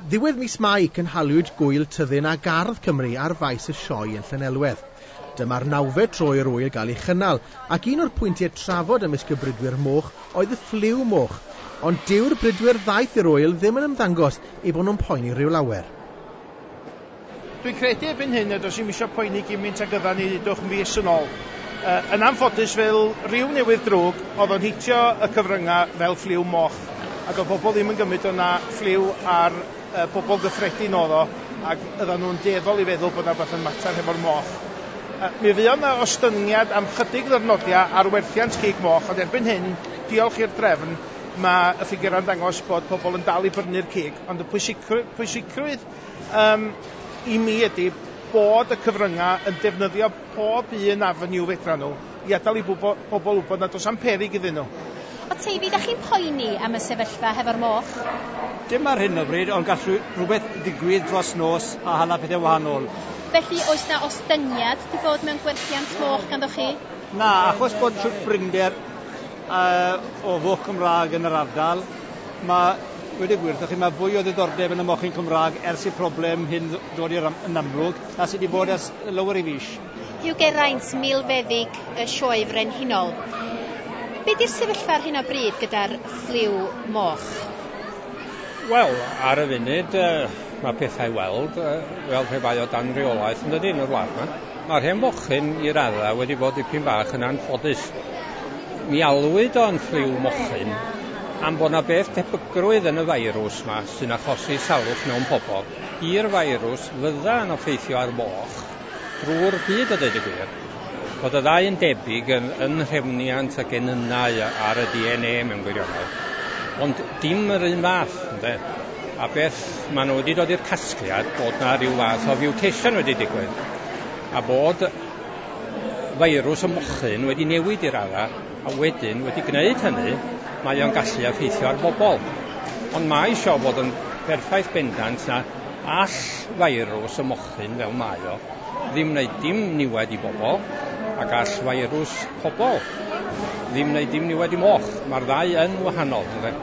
Ddiwedd mis Mai cynhaliwyd gwyl tyddyn a gardd Cymru ar faes y sioe yn Llanelwedd. Dyma'r nawfe tro i'r wyl gael ei chynnal, ac un o'r pwyntiau trafod ymysg y bridwyr moch oedd y ffliw moch. Ond dyw'r bridwyr ddaeth i'r wyl ddim yn ymddangos ei bod nhw'n poeni rhyw lawer. Dwi'n credu erbyn hyn nad oes i'm isio poeni gymint ag yddan ni ddwch fis yn ôl. Yn anffodus fel ryw newydd drwg oedd o'n hitio y cyfrynga fel ffliw moch a doedd pobl ddim yn gymryd o na ffliw ar bobl gyffredin oedd o ac yddan nhw'n dueddol i feddwl bod na rhywbeth yn mater hefo'r moch. Mi fuodd na ostyngiad am chydig ddyrnodia ar werthiant cig moch ond erbyn hyn, diolch i'r drefn, mae y ffigurau'n dangos bod pobl yn dal i brynu'r cig. Ond y pwysigrwydd, pwysigrwydd yym i mi ydy bod y cyfrynga' yn defnyddio pob un avenue fedran nhw i adal i bwbo- bobl wybod nad oes am peryg iddyn nhw. O Teifi, dach chi'n poeni am y sefyllfa hefo'r moch? Dim ar hyn o bryd, ond gall rhywbeth ddigwydd dros nos a hala pethau wahanol. Felly, oes 'na ostyngiad 'di bod mewn gwerthiant moch ganddoch chi? Na, achos bod trwtbrynder a o foch Cymraeg yn yr ardal. Mae dweud y gwir 'tho chi, mae fwy o ddiddordeb yn y mochyn Cymraeg ers i'r problem hyn ddod i'r yn amlwg, a sy' 'di bod ers lawer i fis. Hugh Geraint, milfeddyg y Sioe Frenhinol. Be' 'di'r sefyllfa ar hyn o bryd gyda'r ffliw moch? Wel, ar y funud, yy, ma' pethau weld, yy, fel pe bai o dan reolaeth, yn dydi, yn y wlad 'ma. Mae'r hen fochyn i raddau wedi bod dipyn bach yn anffodus. Mi alwyd o'n ffliw mochyn am bod 'na beth tebygrwydd yn y feirws 'ma sy'n achosi salwch mewn pobol i'r feirws fydda yn effeithio ar foch drwy'r byd a deud y gwir. Bod y ddau yn debyg yn yn nhrefniant a genynnau ar y DNA mewn gwirionedd. Ond dim yr un fath, ynde? a beth maen nhw wedi dod i'r casgliad bod yna rhyw fath o fiwteisiwn wedi digwydd a bod feirws y mochyn wedi newid i'r ara a wedyn wedi gwneud hynny mae o'n gallu effeithio ar bobl. Ond mae eisiau bod yn berffaith bendant na all feirws y mochyn fel mae o ddim wneud dim niwed i bobl a gall feirws pobl ddim wneud dim niwed i moch. Mae'r ddau yn wahanol, ynde?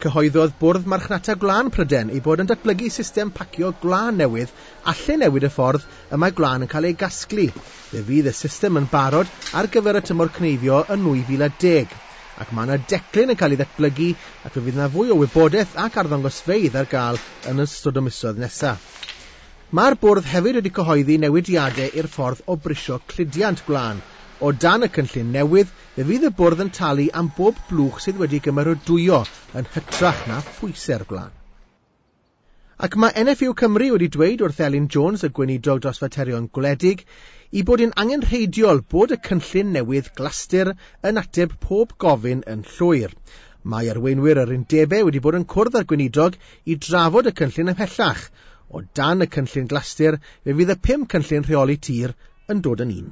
Cyhoeddodd Bwrdd Marchnata Gwlân Pryden ei bod yn datblygu system pacio gwlân newydd alle newid y ffordd y mae gwlân yn cael ei gasglu. Fe fydd y system yn barod ar gyfer y tymor cneifio yn 2010 ac mae yna declyn yn cael ei ddatblygu ac fe fydd yna fwy o wybodaeth ac arddangosfeydd ar gael yn ystod y misoedd nesaf. Mae'r Bwrdd hefyd wedi cyhoeddi newidiadau i'r ffordd o brisio cludiant gwlân. O dan y cynllun newydd, fe fydd y Bwrdd yn talu am bob blwch sydd wedi gymeradwyo yn hytrach na phwysau'r gwlân. Ac mae NFU Cymru wedi dweud wrth Elin Jones, y Gweinidog dros Faterion Gwledig, ei bod yn angenrheidiol bod y cynllun newydd glastir yn ateb pob gofyn yn llwyr. Mae arweinwyr yr undebau wedi bod yn cwrdd â'r Gweinidog I drafod y cynllun ymhellach, o dan y cynllun glastir fe fydd y pum cynllun rheoli tir yn dod yn un.